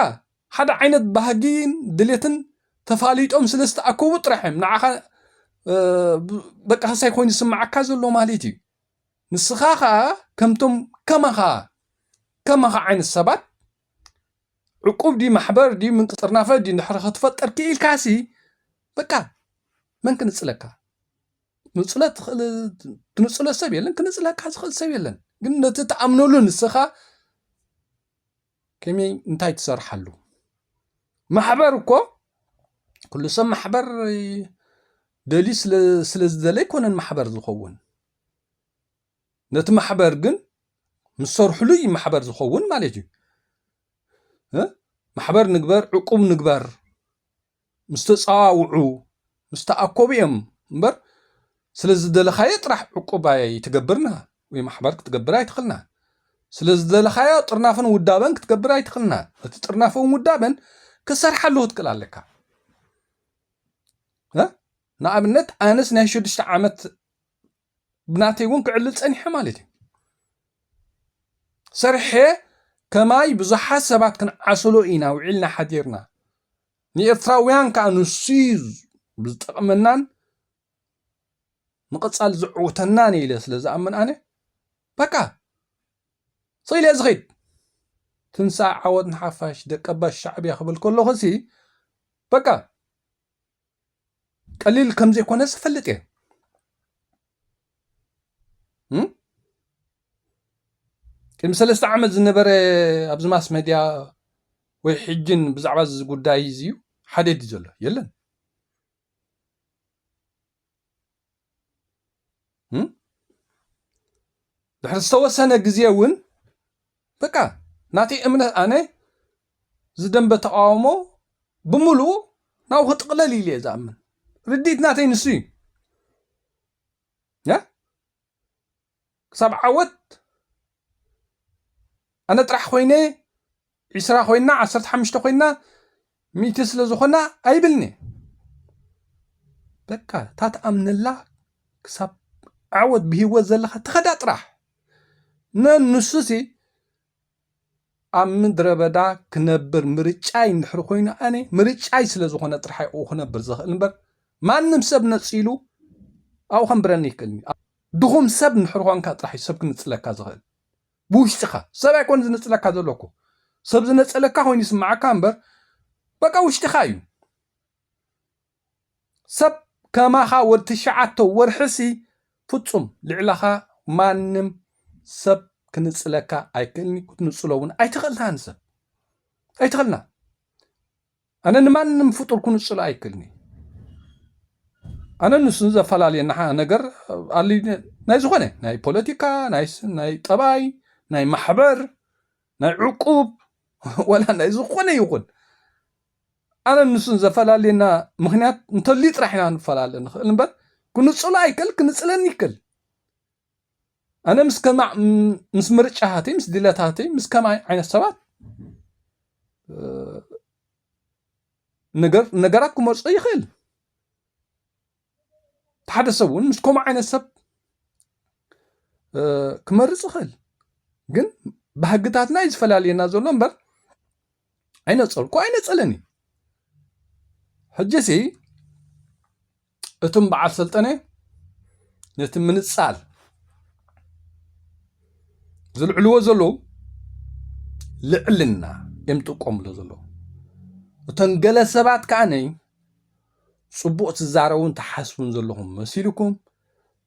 D: ሓደ ዓይነት ባህጊን ድሌትን ተፋሊጦም ስለ ዝተኣከቡ ጥራሕ እዮም ንዓኻ በቃ ከሳይ ኮይኑ ስምዓካ ዘሎ ማለት እዩ ንስኻ ከኣ ከምቶም ከማኻ ከማኻ ዓይነት ሰባት ዕቁብ ድዩ ማሕበር ድዩ ምንቅጥርናፈ ድዩ እንድሕሪ ክትፈጥር ክኢልካሲ በቃ መን ክንጽለካ ንጽለት ትኽእል ትንጽሎ ሰብ የለን ክንጽለካ ዝኽእል ሰብ የለን ግን ነቲ ትኣምነሉ ንስኻ ከመይ እንታይ ትሰርሓሉ ማሕበር እኮ ኩሉ ሰብ ማሕበር ደልዩ ስለ ዝደለ ኣይኮነን ማሕበር ዝኸውን ነቲ ማሕበር ግን ምስ ሰርሕሉ እዩ ማሕበር ዝኸውን ማለት እዩ ማሕበር ንግበር ዕቁብ ንግበር ምስ ተፀዋውዑ ምስ ተኣኮቡ እዮም እምበር ስለ ዝደለኻዮ ጥራሕ ዕቁብ ኣይትገብርና ወይ ማሕበር ክትገብር ኣይትኽልና ስለ ዝደለኻዮ ጥርናፍን ውዳበን ክትገብር ኣይትኽልና እቲ ጥርናፍን ውዳበን ክሰርሓ ኣለዎ ትክእል ኣለካ ንኣብነት ኣነስ ናይ ሽዱሽተ ዓመት ብናተይ እውን ክዕልል ፀኒሐ ማለት እዩ ሰርሐ ከማይ ብዙሓት ሰባት ክንዓስሎ ኢና ውዒልና ሓዲርና ንኤርትራውያን ከዓ ንሱ ዝጠቕመናን ንቐፃሊ ዘዕውተናን ኢለ ስለ ዝኣምን ኣነ በቃ ስኢለ ዝኸይድ ትንሳእ ዓወት ንሓፋሽ ደቀባ ሻዕብያ ክብል ከለኹ ሲ በቃ ቀሊል ከም ዘይኮነ ዝፈልጥ እየ ቅድሚ ሰለስተ ዓመት ዝነበረ ኣብዚ ማስ መድያ ወይ ሕጅን ብዛዕባ እዚ ጉዳይ እዚ ሓደ ድዩ ዘሎ የለን ድሕሪ ዝተወሰነ ግዜ እውን በቃ ናተይ እምነት ኣነ ዝደንበ ተቃውሞ ብምሉኡ ናብኡ ክጥቕለል ኢሉ እየ ዝኣምን ርድኢት ናተይ ንሱ እዩ ክሳብ ዓወት ኣነ ጥራሕ ኮይነ ዒስራ ኮይና ዓሰርተ ሓሙሽተ ኮይና ሚእቲ ስለ ዝኾና ኣይብልኒ በቃ እታ ትኣምነላ ክሳብ ዓወት ብሂወት ዘለካ ትኸዳ ጥራሕ ነንሱሲ ኣብ ምድረ በዳ ክነብር ምርጫይ እንድሕር ኮይኑ ኣነ ምርጫይ ስለ ዝኾነ ጥራሕ ኣብኡ ክነብር ዝኽእል እምበር ማንም ሰብ ነፂሉ ኣብኡ ከንብረኒ ይክእልኒ ድኹም ሰብ እንድሕር ኾንካ ጥራሕ እዩ ሰብ ክንፅለካ ዝኽእል ብውሽጥኻ ሰብ ኣይኮን ዝንፅለካ ዘለኩ ሰብ ዝነፀለካ ኮይኑ ይስማዓካ እምበር በቃ ውሽጥኻ እዩ ሰብ ከማኻ ወድ ትሽዓተ ወርሒሲ ፍጹም ልዕለኻ ማንም ሰብ ክንጽለካ ኣይክእልንዩ ክትንጽሎ ውን ኣይትኽእልናን ንሰብ ኣይትኽእልና ኣነ ንማንም ፍጡር ክንጽሎ ኣይክእልንዩ ኣነ ንሱ ዘፈላልየና ነገር ኣል ናይ ዝኾነ ናይ ፖለቲካ ናይ ጠባይ ናይ ማሕበር ናይ ዕቁብ ወላ ናይ ዝኾነ ይኹን ኣነ ንሱን ዘፈላልየና ምክንያት እንተልዩ ጥራሕ ኢና ንፈላለ ንኽእል እምበር ክንጽሎ ኣይክእል ክንጽለን ይክእል ኣነ ምስ ከማ ምስ ምርጫታተይ ምስ ድለታተይ ምስ ከማይ ዓይነት ሰባት ነገር ነገራት ክመርጾ ይኽእል እቲ ሓደ ሰብ እውን ምስ ከምኡ ዓይነት ሰብ ክመርፅ ይኽእል ግን ባህግታትና እዩ ዝፈላልየና ዘሎ እምበር ኣይነፀልኩ ኣይነፀለን እዩ ሕጂሲ እቶም በዓል ሰልጠነ ነቲ ምንፃል ዝልዕልዎ ዘለዉ ልዕልና እዮም ዝጥቀምሉ ዘለዉ እቶም ገለ ሰባት ከዓነይ ጽቡቅ ትዛረቡን ትሓስቡን ዘለኹም መሲልኩም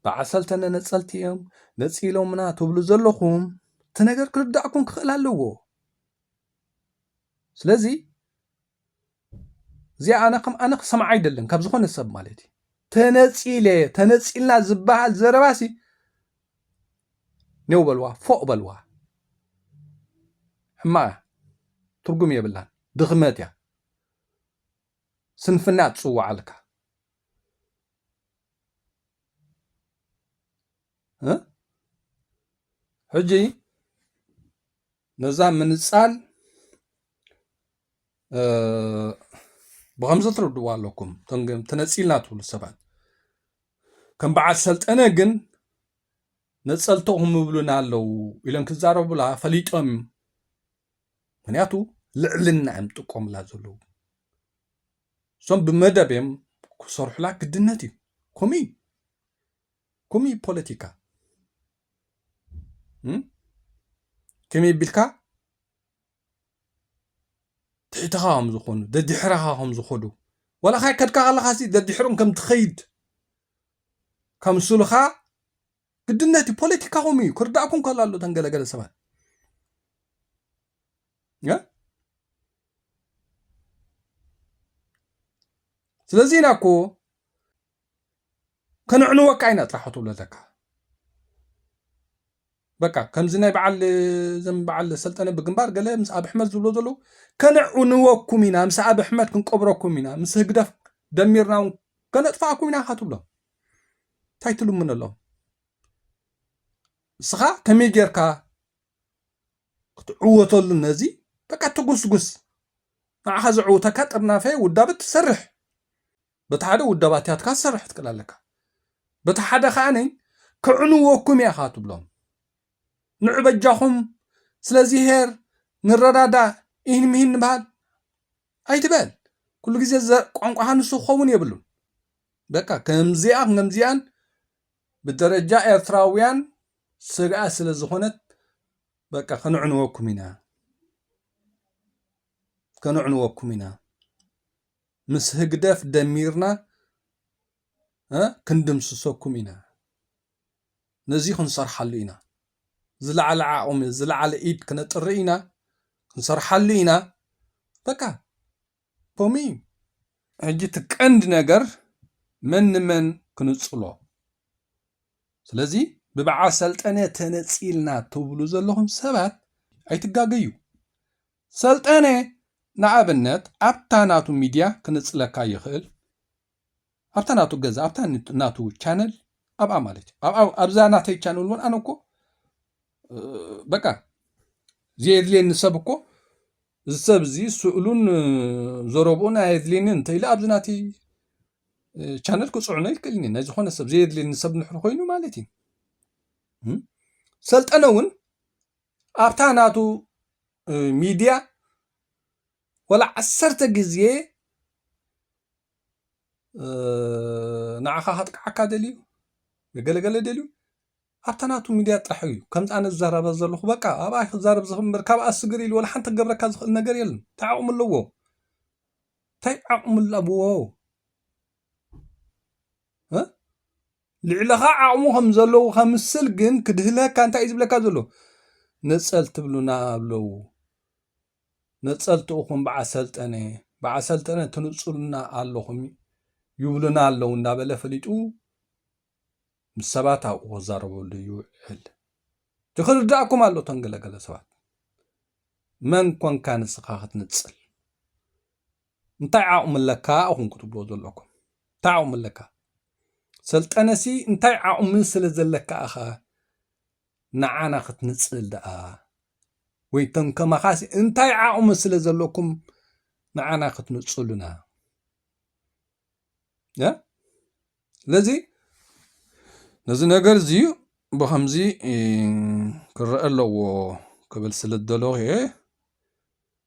D: ብዓሰልተ ነነጸልቲ እዮም ነጺሎምና ትብሉ ዘለኹም እቲ ነገር ክርዳእኩም ክኽእል ኣለዎ ስለዚ እዚኣ ኣነ ከም ኣነ ክሰምዓ ኣይደልን ካብ ዝኾነ ሰብ ማለት እዩ ተነፂለ ተነፂልና ዝበሃል ዘረባሲ ኔው በልዋ ፎቅ በልዋ ሕማቅ እያ ትርጉም የብላን ድኽመት እያ ስንፍና ትጽውዓልካ እ ሕጂ ነዛ ምንጻል ብከምዚ ትርድዋ ኣለኩም ተነጺልና ትብሉ ሰባት ከም በዓል ሰልጠነ ግን ነጸልተኹም ይብሉና ኣለዉ ኢሎም ክዛረቡላ ፈሊጦም ምክንያቱ ልዕልና እዮም ጥቀሙላ ዘለዉ እሶም ብመደብ እዮም ክሰርሑላ ግድነት እዩ ከምኡ እዩ ከምኡ እዩ ፖለቲካ ከመይ ቢልካ ትሕትኻ ከም ዝኾኑ ደድሕራኻ ከም ዝኾዱ ዋላ ካይ ከድካ ከለኻ ሲ ደድሕሮም ከም ትኸይድ ከምስሉኻ ግድነት እዩ ፖለቲካኹም እዩ ክርዳእኩም ከሎ ኣሎ ተን ገለገለ ሰባት ስለዚ ኢና እኮ ከነዕንወካ ኢና ጥራሕ ክትብሎ ኣለካ በቃ ከምዚ ናይ በዓል ዘም በዓል ሰልጠነ ብግንባር ገለ ምስ ኣብ ኣሕመድ ዝብሎ ዘለዉ ከነዕንወኩም ኢና ምስ ኣብ ኣሕመድ ክንቀብረኩም ኢና ምስ ህግደፍ ደሚርና እውን ከነጥፋኣኩም ኢና ካትብሎም እንታይ ትልምነሎም? ንስኻ ከመይ ጌርካ ክትዕወተሉ ነዚ በቃ ትጉስጉስ ንዓኻ ዘዕውተካ ጥርናፈ ውዳበ ትሰርሕ በቲ ሓደ ውዳባትያትካ ትሰርሕ ትክእል ኣለካ በቲ ሓደ ከዓኒ ክዕንወኩም እያ ካ ትብሎም ንዕበጃኹም ስለዚ ሄር ንረዳዳእ ኢህን ምሂን ንበሃል ኣይትበል ኩሉ ግዜ ቋንቋኻ ንሱ ክኸውን የብሉን በቃ ከምዚኣ ከምዚኣን ብደረጃ ኤርትራውያን ስግኣት ስለ ዝኾነት በቃ ከነዕንወኩም ኢና ከነዕንወኩም ኢና ምስ ህግደፍ ደሚርና ክንድምስሰኩም ኢና ነዚ ክንሰርሓሉ ኢና ዝለዓለ ዓቕሚ ዝለዓለ ኢድ ክነጥሪ ኢና ክንሰርሓሉ ኢና በቃ ፖሚ ሕጂ እቲ ቀንዲ ነገር መን ንመን ክንጽሎ ስለዚ ብበዓል ሰልጠነ ተነጺልና ትብሉ ዘለኹም ሰባት ኣይትጋገዩ ሰልጠነ ንኣብነት ኣብታ ናቱ ሚድያ ክንጽለካ ይኽእል ኣብታ ናቱ ገዛ ኣብታ ናቱ ቻነል ኣብኣ ማለት እዩ ኣብኣ ኣብዛ ናተይ ቻነል እውን ኣነ እኮ በቃ ዘየድልየኒ ሰብ እኮ እዚ ሰብ እዚ ስእሉን ዘረብኡን ኣየድልየኒ እንተኢለ ኣብዚ ናተይ ቻነል ክፅዕኖ ይክእልኒ ናይ ዝኾነ ሰብ ዘየድልየኒ ሰብ ንሕር ኮይኑ ማለት እዩ ሰልጠነ እውን ኣብታ ናቱ ሚድያ ወላ ዓሰርተ ግዜ ንዓኻ ከጥቅዓካ ደልዩ ገለገለ ደልዩ ኣብታ ናቱ ሚድያ ጥራሕ እዩ ከምዚ ኣነ ዝዛረባ ዘለኹ በቃ ኣብኣ ክዛረብ ዝኽእል እምበር ካብኣ ስግር ኢሉ ወላ ሓንቲ ክገብረካ ዝኽእል ነገር የለን እንታይ ዓቕሚ ኣለዎ እንታይ ዓቕሚ ኣለዎ ልዕለኻ ዓቕሙ ከም ዘለዉ ከምስል ግን ክድህለካ እንታይ እዩ ዝብለካ ዘሎ ንፀል ትብሉና ኣለዉ ነፀልቲ እኹም በዓል ሰልጠነ በዓል ሰልጠነ ትንፁሉና ኣለኹም ይብሉና ኣለው እንዳበለ ፈሊጡ ምስ ሰባት ኣብኡ ክዛረበሉ ይውዕል እቲ ክርዳእኩም ኣሎ እቶም ገለገለ ሰባት መን ኮንካ ንስኻ ክትንፅል እንታይ ዓቕሚ ኣለካ እኹም ክትብሎ ዘለኩም እንታይ ዓቕሚ ኣለካ ሰልጠነሲ እንታይ ዓቕሚ ስለ ዘለካ ኢኻ ንዓና ክትንጽል ደኣ ወይ ከም ከማኻሲ እንታይ ዓቕሚ ስለ ዘለኩም ንዓና ክትንጽሉና ያ ስለዚ ነዚ ነገር እዚ ብኸምዚ ክረአ ኣለዎ ክብል ስለ ዝደለኹ እየ